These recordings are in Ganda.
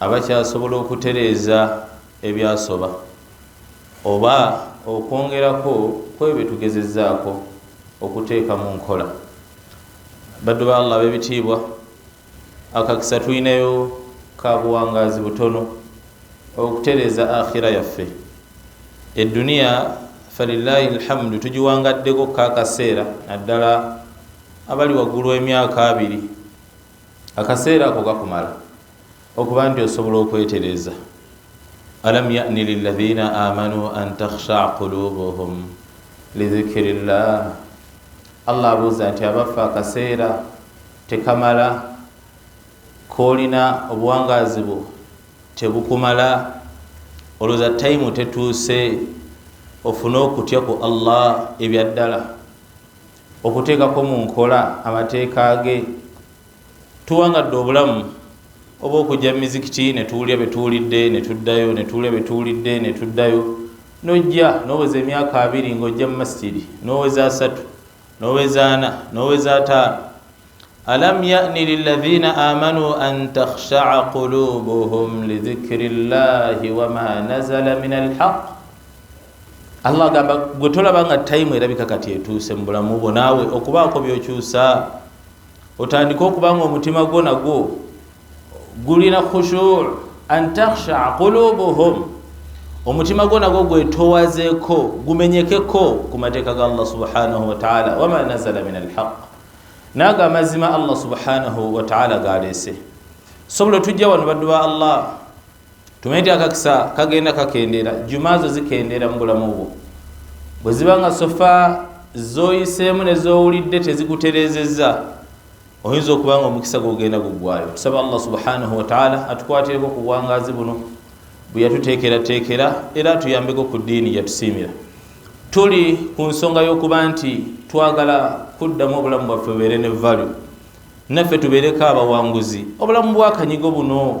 abakyasobola okutereeza ebyasoba oba okwongerako kwebyo byetugezezaako okuteeka mu nkola baddu ba allah bebitiibwa akakisa tulinayo kabuwangaazi butono okutereeza akhira yaffe eduniya falilahi lhamdu tugiwangaddeko kakaseera naddala abali waggulu emyaka abiri akaseera ako gakumala okuba nti osobola okwetereza alam yani lilaina amanu an takhsha qulubuhum lidhikiri llah allah abuuza nti abaffe akaseera tekamala koolina obuwangaazi bwo tebukumala olwoza tayimu tetuuse ofune okutya ku allah ebyaddala okuteekako mu nkola amateeka ge tuwangadde obulamu oba okujja mu mizikiti ne tuwulira bye tuwulidde ne tuddayo ne tuwulira bye tuwulidde ne tuddayo nojja noweza emyaka abiri ng'ojja mu masjidi noweza asatu noweza ana noweza ataano alam yani liladhina amanu an takhshaa qulubuhum lidhikri llahi wama nazala min alhaq allah agamba gwe tolaba nga tayimu erabika kati etuuse mu bulamu bwo naawe okubaako byokyusa otandike okuba nga omutima gwo nagwo gulina khushur an takhshaa qulubuhum omutima gwo nagwo gwetowazeko gumenyekeko ku mateeka ga allah subhanahu wataala wama nazala min alhaq naago amazima allah subhanahu wataala galeese sobola otujja wano baddu ba allah tumanyi nti akakisa kagenda kakendeera juma zo zikendeera mu bulamu bwo bwe ziba nga sofa zoyiseemu nezowulidde tezikutereezezza oyinza okuba nga omukisa gwogenda guggwayo tusaba allah subhanahu wataala atukwatireko ku bwangazi buno bwe yatuteekerateekera era atuyambeko ku ddiini yatusiimira tuli ku nsonga y'okuba nti twagala kuddamu obulamu bwaffe bubeere ne valu naffe tubeereko abawanguzi obulamu bwakanyigo buno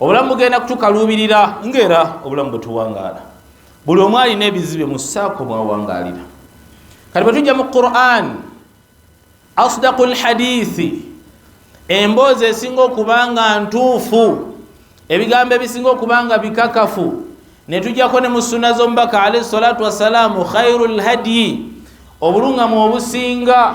obulamu bugenda kutukaluubirira ngaera obulamu bwetuwangaala buli omu alina ebizibe mu saako mwawangaalira kati bwetujja mu quran asdaku lhadithi emboozi esinga okuba nga ntuufu ebigambo ebisinga okuba nga bikakafu netujjako ne mu sunna z'omubaka alaihi salatu wassalaamu khairu lhadyi obulungamu obusinga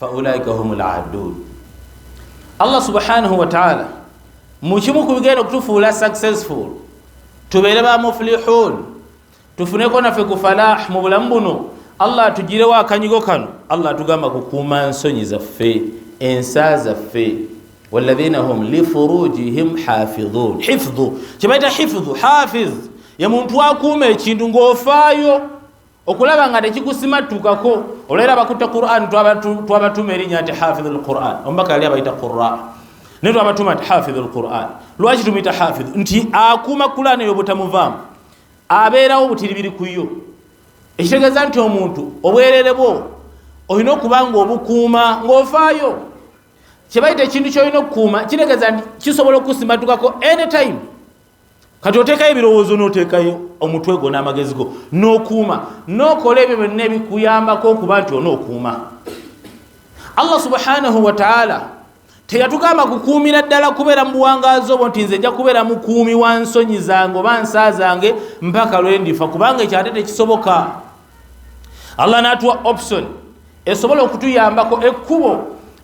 faulaika hum ladun allah subhanahu wataala mukimu ku bigenda okutufuula successful tubeere ba muflihun tufuneko naffe ku falah mu bulamu buno allah atugirewo akanyigo kano allah atugamba kukuuma nsonyi zaffe ensa zaffe waladhina hum lifurujihim hafidhun hifdhu kyebaita hifdhu hafiz ye muntu akuuma ekintu ng'ofaayo okulaba nga tekikusimattukako olwera abakutte quran twabatuma erinnya nti hafidhu lquran omubaka yali abayita qura naye twabatuma nti hafidhu lquran lwaki tumuyita hafidhu nti akuuma quran eyo butamuvaamu abeerawo butiribiri ku yo ekitegeeza nti omuntu obwerere bwo olina okuba nga obukuuma ng'ofaayo kyebayita ekintu kyolina okukuuma kitegeeza nti kisobola okukusimattukako anytime kati oteekayo ebirowoozo n'oteekayo omutwe gwo n'amagezi go n'okuuma n'okola ebyo byonna ebikuyambako okuba nti onookuuma allah subhanahu wataala teyatugamba kukuumira ddala kubeera mu buwangaazi obwo nti nze nja kubeera mukuumi wa nsonyi zange oba nsa zange mpaka lwe ndifa kubanga ekyo ate tekisoboka allah n'atuwa option esobola okutuyambako ekkubo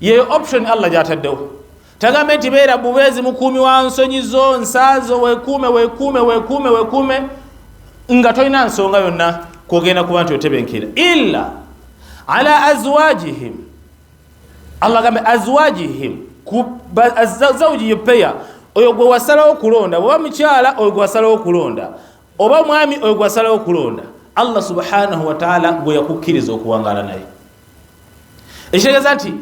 yeyo option allah gyataddewo tagambe nti beera bubeezi mukuumi wa nsonyi zo nsaazo wekuume wekuume wekuume wekuume nga tolina nsonga yonna kwogenda kuba nti otebenkera illa ala azwajihim allah gambe azwajihim zauji yupeya oyo gwe wasalawo okulonda oba mukyala oyo gwe wasalawo okulonda oba mwami oyo gwe wasalawo okulonda allah subhanahu wataala gwe yakukkiriza okuwangaala naye ekitegeeza nti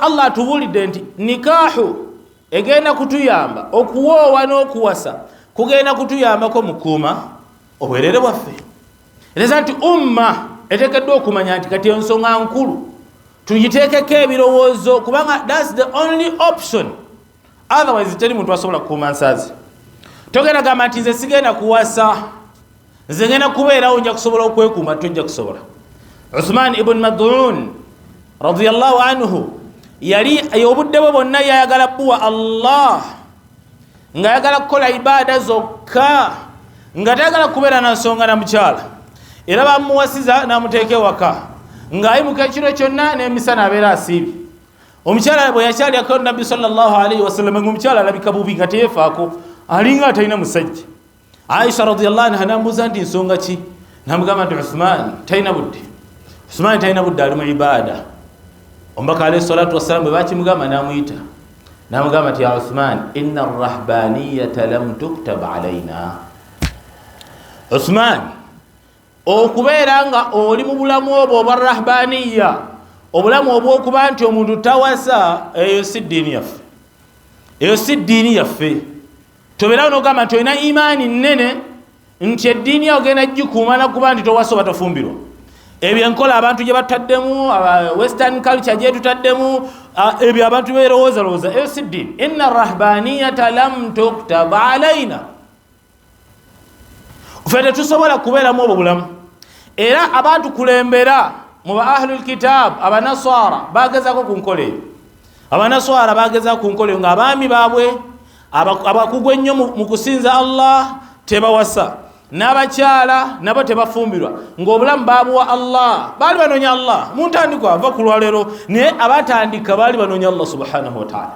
allah atubuulidde nti nikahu egenda kutuyamba okuwoowa n'okuwasa kugenda kutuyambako mukuuma obwerere bwaffe eteeza nti umma etekeddwa okumanya nti kati ensonga nkulu tugiteekeko ebirowoozo kubanga thats the only option otherwise teri muntu asobola kukuuma nsaazi togenda gamba nti nze sigenda kuwasa nze ngenda kubeerawo nja kusobola okwekuuma tojja kusobola uthman ibuni madun radiallahu anhu yali obudde bwe bwonna yayagala buwa allah ngaayagala kukola ibaada zokka nga tayagala kubeera na nsonga na mukyala era bamuwasiza namuteeka ewaka ng'ayimuka ekiro kyonna n'emisana abeera asiibye omukyala bwe yakyalyako nabbi salllahalaihi wasalama ngaomukyala alabika bubi nga teyefaako alinga atalina musajja aisha radiallah anha nambuuza nti nsonga ki namugamba nti uthman talina budde uthman talina budde ali mu ibaada omubaka alaihi salatu wassalamu bwe bakimugamba namuyita namugamba nti ya uthman ina arrahbaniyata lam tuktab alaina uthman okubeera nga oli mu bulamu obwo obwa rahbaniya obulamu obwokuba nti omuntu tawasa eyo si ddiini yaffe eyo si ddiini yaffe tobeerawo nogamba nti olina imaani nnene nti eddiini yawo genda gikuuma nakuba nti towasa oba tofumbirwa ebyo enkola abantu gye bataddemu western culture gyetutaddemu ebyo abantu berowoozalowooza eyo si ddiini inna rahbaniyata lam tuktab alaina fe tetusobola kubeeramu obwo bulamu era abantu kulembera mu ba ahlu lkitaabu abanaswara bagezako ku nkola eyo abanaswara bagezako ku nkola eyo nga abaami baabwe abakugu ennyo mu kusinza allah tebawasa n'abakyala nabo tebafumbirwa ng'obulamu baabuwa allah baali banoonya allah muntandikwa ava ku lwaleero naye abatandika baali banoonya allah subhanahu wataala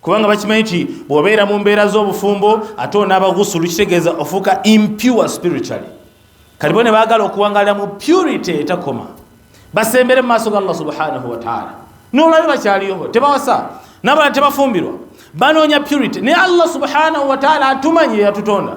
kubanga bakimanyi nti bwobeera mu mbeera z'obufumbo ate onaaba gusulu kitegeeza ofuuka impure spiritually kati bo ne baagala okuwangalira mu purity etakoma basembere mu maaso ga allah subhanahu wataala nolabe bakyaliyoho tebawasa nabala tebafumbirwa banoonya purity naye allah subhanahu wataala atumanyi yeyatutonda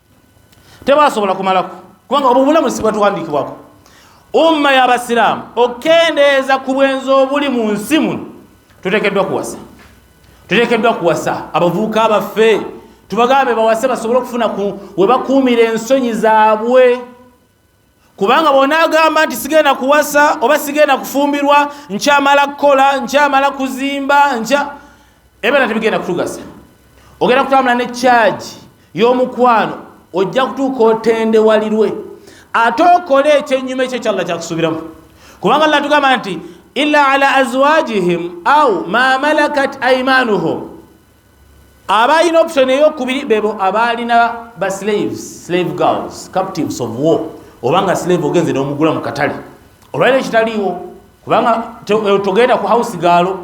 tebasobola kumalako kubanga obwo bulamu sibwatuwandiikibwako umma y'abasiraamu okendeeza ku bwenzi obuli mu nsi muno tutekeddwa kuwasa tutekeddwa kuwasa abavubuka baffe tubagambe bawase basobole okufuna webakuumira ensonyi zaabwe kubanga bwonaagamba nti sigenda kuwasa oba sigenda kufumbirwa nkyamala kukola nkyamala kuzimba nkya ebera tebigenda kutugasa ogenda kutambula ne kyagi y'omukwano ojja kutuuka otendewalirwe ate okole ekyenyuma ekyo ekyalla kyakusuubiramu kubanga alla tugamba nti ila ala azwajihim au ma malakat aimanuhum abalina option eyokubiri bebo abaalina ba slaves slave girls captives of war obanga slave ogenze nomugula mu katale olwaliro ekitaliiwo kubanga eh, togenda ku house gaalo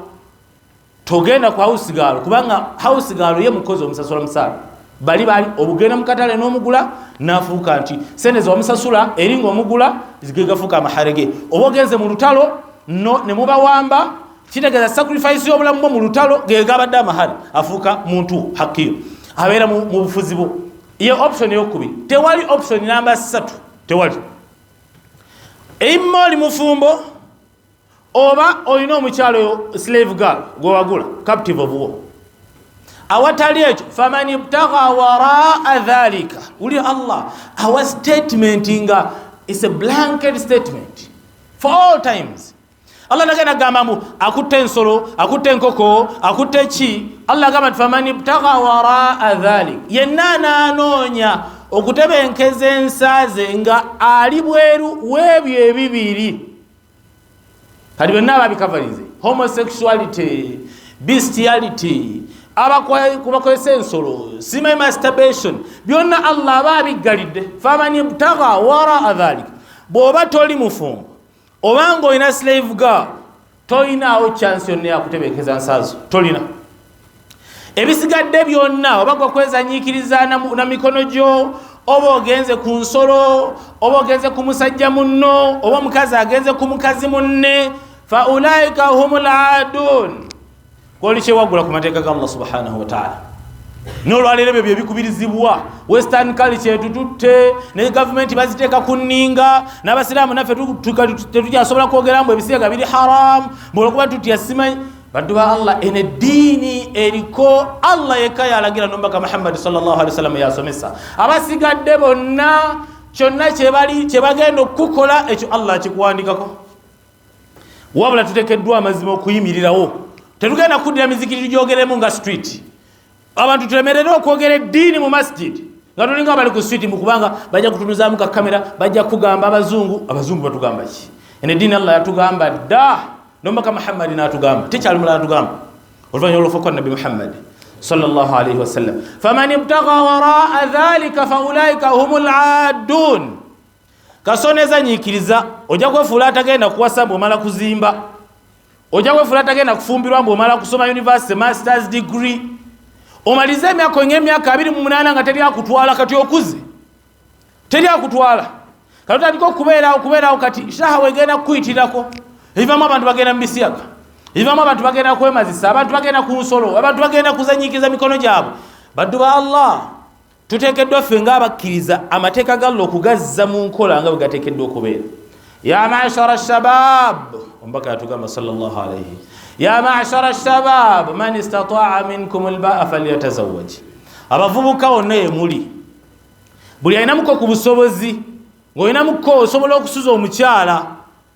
togenda ku house gaalo kubanga house gaalo ye mukozi omusasula musaala bali bali obugenda mu katale nomugula nafuuka nti sente zewamusasula eringa omugula gegafuuka amaharege oba ogenze mu lutalo nemubawamba kitegeeza sacrifice y'obulamu bwo mu lutalo gegabadde amahali afuuka muntu hakiyo abeera mu bufuzi bwo ye option eyokubiri tewali option namba satu tewali eima oli mufumbo oba olina omukyalo oyo slave girl gwewagula captive of war awatali ekyo faman ibtaga waraa dhalika wuli allah awa statement nga is a blanket statement for all times allah nagenda agamba mbu akutte ensolo akutte enkoko akutte ki allah agamba nti faman ibtaga waraa dhalik yenna anaanoonya okutebenkeza ensa ze nga ali bweru webyo ebibiri kati byonna ababikavalize homosexuality bestiality abakozesa ensolo simayi masturbation byonna allah aba abiggalidde faman ibtaga waraa dhalik bw'oba toli mufumbo oba nga olina slave girl tolinaawo chance yonna yakutebenkeza nsaazo tolina ebisigadde byonna oba gwe kwezanyiikiriza na mikono gyo oba ogenze ku nsolo oba ogenze ku musajja munno oba omukazi agenze ku mukazi munne faulaika hum ladun koli kyewagula ku mateeka ga allah subhanahu wataala nolwaleero ebyo byebikubirizibwa western culture etututte ne gavumenti baziteeka ku nninga n'abasiraamu naffe tetukyasobola kwogera mbu ebisiyaga biri haramu bwolwokuba tutya simanyi baddu ba allah eno eddiini eriko allah yekka yalagira nomubaka muhammadi sawasalam yasomesa abasigadde bonna kyonna kyebagenda okukukola ekyo allah akikuwandikako wabula tutekeddwa amazima okuyimirirawo tetugenda kuddira mizikiti tugyogeremu nga street abantu tulemerere okwogera eddiini mu masjid nga tulinga bali ku street mukubanga bajja kutunuzamu ka kamera bajja kugamba abazungu abazungu batugamba ki ene ddiini allah yatugamba dda nomaka muhammadi natugamba tekyali mulala tugamba oluvanyuma olwofuka nabbi muhammadi sallallahu alaihi wasallam faman ibtaga waraa dhalika faulaika hum ladun kasoneza nyikiriza ojja kwefuula atagenda kuwasa mbu omala kuzimba ojja kwefuula atagenda kufumbirwa mbu omala kusoma university masters degree omalize emyaka oinga emyaka abiri mu munaana nga teri akutwala kati okuze teri akutwala kati otandika okubeerawo kubeerawo kati shaha wegenda kukuyitirako ebivamu abantu bagenda mu bisiyaga ebivamu abantu bagenda kwemazisa abantu bagenda ku nsolo abantu bagenda kuzanyikiriza mikono gyabwe baddu ba allah tuteekeddwa ffe ng'abakkiriza amateeka galla okugazza mu nkola nga bwe gateekeddwa okubeera ya mashara shabab omubaka yatugamba salllah alaihi ya mashara shabab man istataa minkum lbaa falyatazawaj abavubuka wonna yemuli buli alinamuko ku busobozi ng'olinamuko osobola okusuza omukyala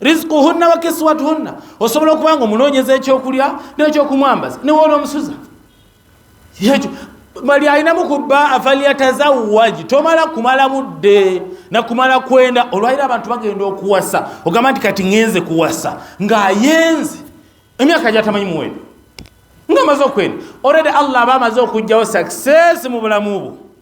rizquhunna wa kiswatuhunna osobola okuba nga omunoonyeza ekyokulya nekyokumwambaza newoola omusuza ekyo bali alinamu kuba afalyatazawaji tomala kumala budde nakumala kwenda olwaliro abantu bagenda okuwasa ogamba nti kati ngenze kuwasa ngaayenze emyaka gyatamanyi muwendo nga amaze okwenda oredi allah aba amaze okugjawo success mu bulamu bwo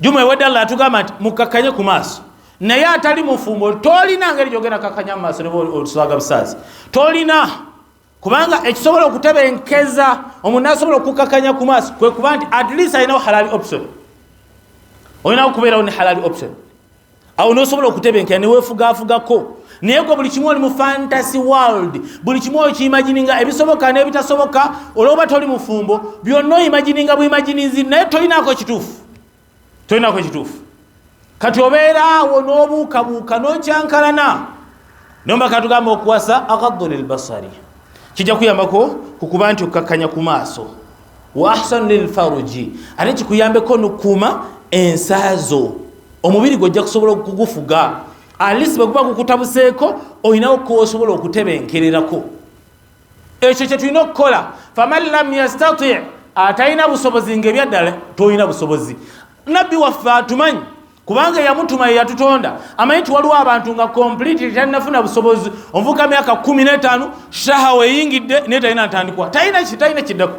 juma ewedde allah atugamba nti mukakkanye ku maaso naye atali mufumbo tolina ngeri gyogenda kakanya mu maaso neboswaga busaazi tolina kubanga ekisobola okutebenkeza omuntu nasobola okukakanya ku maaso kwekuba nti at least alinawo halali option olinawo okubeerawo ne halali option awo nosobola okutebenkera newefugaafugako naye gwe buli kimu oli mu fantasy world buli kimu okiimagininga ebisoboka n'ebitasoboka olwoba toli mufumbo byonna oimagininga buimaginizi naye tolinako ekituufu tolinako ekituufu kati obeeraawo n'obuukabuuka n'okyankalana nomba katugamba okuwasa agaddu lilbasari kijja kuyambako ku kuba nti okkakkanya ku maaso wa ahsanu lilfaruji ate kikuyambeko nokukuuma ensaazo omubiri gwe ojja kusobola okugufuga alisi bwe guba gukutabuseeko olinawo koosobola okutebenkererako ekyo kye tulina okukola faman lam yastati atalina busobozi ngaebyaddala tolina busobozi nabbi waffe atumanyi kubanga eyamutuma yeyatutonda amanyi tiwaliwo abantu nga complete talinafuna busobozi omuvuka myaka 15 shahawa eyingidde naye talina ntandikwa talina kiddako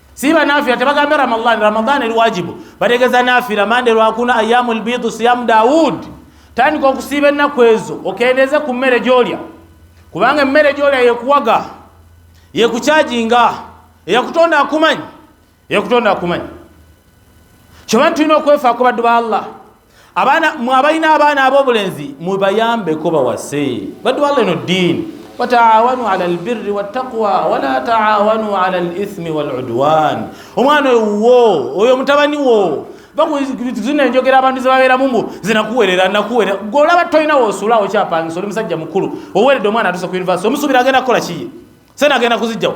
siba nafira tebagambe ramadan ramadan eri wajibu bategeza nafira mande lwakuna ayamu lbidu siyamu daud tandika okusiiba ennaku ezo okendeeze ku mmere gyolya kubanga emmere gyolya yekuwaga yekukyajinga eyakutonda akumanyi eyakutonda akumanyi kyoba tulina okwefaako baddu ba allah abaana mwabalina abaana abobulenzi mubayambeko bawase batwala eno ddiini wataawanu ala lbirri wattaqwa wala taawanu ala lithmi waludwan omwana oyo wuwo oyo mutabani wo zino enjogera abantu zebabeeramu mbu zinakuwerera nakuwerera golaba tolina wosula okyapangisa oli musajja mukulu oweredde omwana atuuse ku univesity omusuubira agenda kukola kiye sena agenda kuzijjawo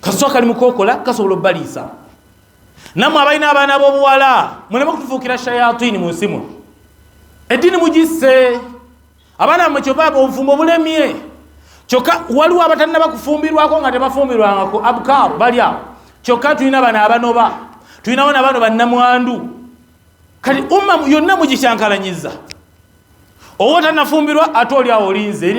kaswa kali mukokola kasobola obaliisa namwe abalina abaana bobuwala muleme kutufuukira shayatini mu nsimu eddiini mugisse abaana bamwe kyobaba obufumbo bulemye kyokka waliwo abatalina bakufumbirwako nga tebafumbirwangako abukaaru bali awo kyokka tulina bana abanoba tulinawo nabano bannamwandu kati umma yonna mugikyankalanyiza owo tanafumbirwa ate oli awo olinze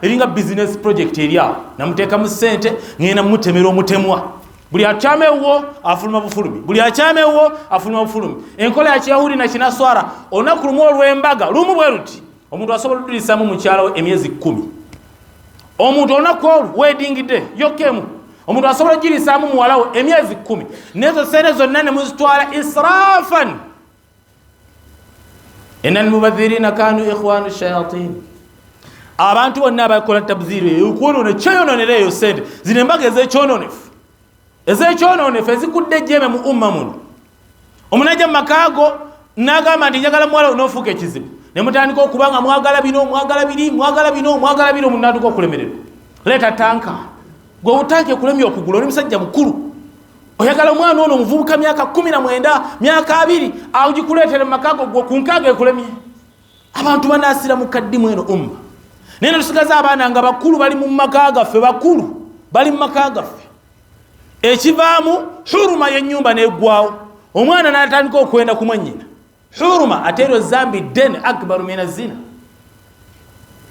eringa business project eri awo namuteekamu sente ngenda mutemera omutemwa buli akyama ewuwo afuluma bufulumi buli akyama ewuwo afuluma bufulumi enkola yakiyahudi nakinaswara olunaku lumu olwembaga lumu bwe luti omuntu asobola odulisamu mukyalawo emyezi kumi omuntu olunaku olwo wedingidde yokemu omuntu asobola ogirisamu muwalawo emyezi kumi nezo sente zonna nemuzitwala israfan ina almubadhirina kanu ikhwanu shayatin abantu bonna abakola tabdhiru eyokwonona kyeyononera eyo sente zino embaga ezekyononefu ezekyononefu ezikudde ejjeme mu umma muno omuntu ajja mu makaago nagamba nti njagala muwala onofuuka ekizibu ne mutandika okuba nga mwagala bino mwagala biri mwagala bino mwagala bino omuntu natuka okulemererwa leeta tanka gwe obutanka ekulemye okugula oli musajja mukulu oyagala omwana ono omuvubuka myaka kumi na mwenda myaka abiri agikuleetere mu makago gwo ku nkaaga ekulemye abantu banaasira mu kaddimu eno umma naye netusigaza abaana nga bakulu bali mu maka gaffe bakulu bali mu maka gaffe ekivaamu huruma y'ennyumba n'eggwawo omwana n'atandika okwenda kumwannyina huruma ate eryo zambi den akbaru mina zina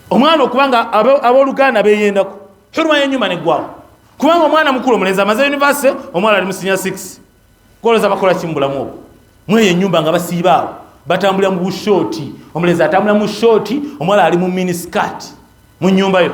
omwana okuba nga aboluganda beyendako huruma yenyuma negwawo kubanga omwana mukulu omulenzi amaze univesity omwana ali musinya 6 koloza bakola kimubulamu obwo mweyo enyumba nga basiibaawo batambulira mu bushooti omulenzi atambulira mu shooti omwana ali mu miniskat mu nyumba yo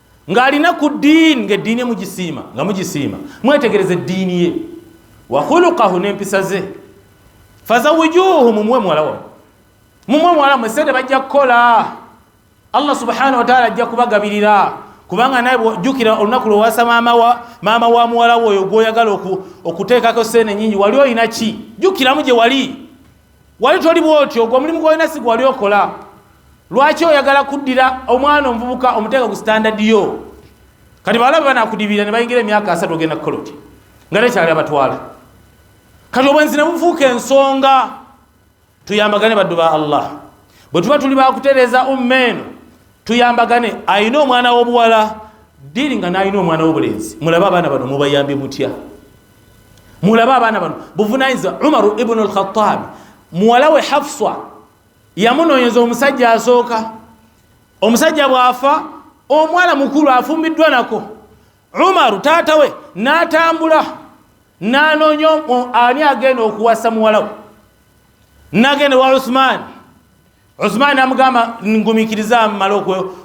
ng'alina ku ddiini ng'eddiini mugisiima nga mugisiima mwetegereza eddiini ye wakhulukahu n'empisa ze fazawijuuhu mumuwe muwala wa mumuwe muwala mwe sente bajja kukola allah subhanahu wataala ajja kubagabirira kubanga naye jukira olunaku lwewasa maama wa muwala we oyo gwoyagala okuteekako sente nyingi wali olina ki jukiramu gye wali wali toli bwoti ogwo omulimu gwolina si gwewali okola lwaki oyagala kuddira omwana omuvubuka omuteeka ku standard yo kati bawala bwe banakudibira ne bayingira emyaka asatu ogenda kukola oti nga tekyali abatwala kati obwenzi ne bufuuka ensonga tuyambagane baddu ba allah bwe tuba tuli bakutereeza umma eno tuyambagane ayina omwana w'obuwala diri nga nalina omwana wobulenzi mulabe abaana bano mubayambye mutya mulabe abaana bano buvunanyizibwa umaru ibnu lkhatabi muwala we hafswa yamunoonyeza omusajja asooka omusajja bwafa omwana mukulu afumbiddwa nako umaru taata we natambula nanoonya ani agenda okuwasa muwala we nagenda wa uthmaani usmaani amugamba ngumikiriza amumala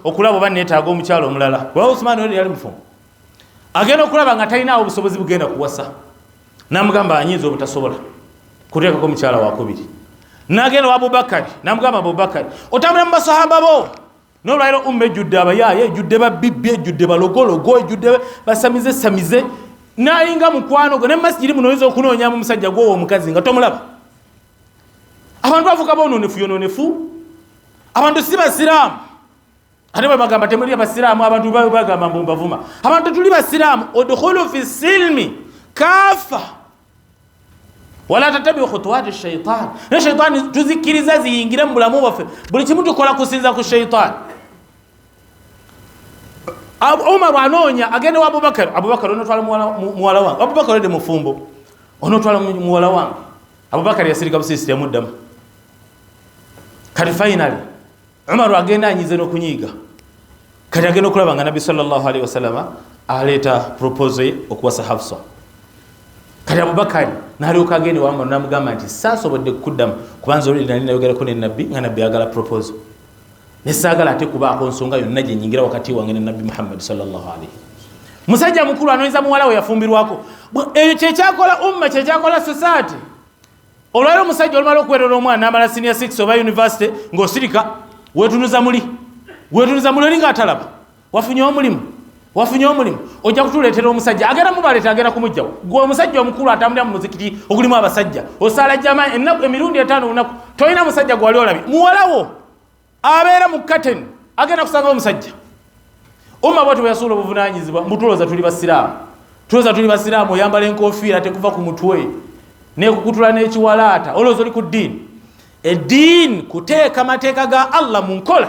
okulaba oba neetaaga omukyalo omulala kuba usmaani oli yali mufumbo agenda okulaba nga talinaawo obusobozi bugenda kuwasa namugamba anyinza obutasobola kuteekako omukyala wakubiri nagenda wa abubakari namugamba abubakari otambula mu basahaba bo nolwaliro umma ejjudde abayaaye ejjudde babibbi ejjudde balogologo ejjudde basamize samize nalinga mukwano gwe ne masijiri munoyinza okunoonyamu omusajja gwowo omukazi nga tomulaba abantu bafuuka bononefu yononefu abantu si basiraamu ate bwebagamba temuli abasiraamu abantu bagamba mbu mbavuma abantu tuli basiraamu udkhulu fi silmi kafa wala tatabi khutuwati shaitan ne shaitani tuzikkiriza ziyingire mu bulamu bwaffe buli kimu tukola kusinza ku shaitani umaru anoonya agenda wa abubakar abubakar onotwala muwala wange abubakar ode mufumbo onotwala muwala wange abubakar yasirika busirisi teyamuddamu kati fainali umaru agenda anyize n'okunyiiga kati agenda okulaba nga nabbi salllahalihi wasalama aleeta propose ye okuwasa hafsa kati abubakari nalyoka agenda wamanu namugamba nti sasobodde kukuddamu kubanza oluli nali nayogerako nenabbi nga nabbi ayagala propose nesaagala ate kubaako nsonga yonna gye nyingira wakati wange ne nabbi muhammadi salllahu alaihi musajja mukulu anoyeza muwala we yafumbirwako eyo kyekyakola umma kyekyakola society olwali omusajja olumala okuwerera omwana amala senior 6 oba university ng'osirika wetunuza muli wetunuza muli oli ng'atalaba wafunye omulimu wafunye omulimu ojja kutuleetera omusajja agenda mubaleeta agenda kumugjawo gwe omusajja omukulu atambulira mu muzikiti ogulimu abasajja osaala jama enaku emirundi etaano olunaku tolina musajja gwewali olabye muwalawo abeera mu katen agenda kusanga omusajja omma bwati bweyasuula obuvunanyizibwa mbutuloza tuli basiraamu tuloza tuli basiraamu oyambala enkofiira tekuva ku mutwe nekukutula n'ekiwalaata olowooza oli ku ddiini eddiini kuteeka mateeka ga allah mu nkola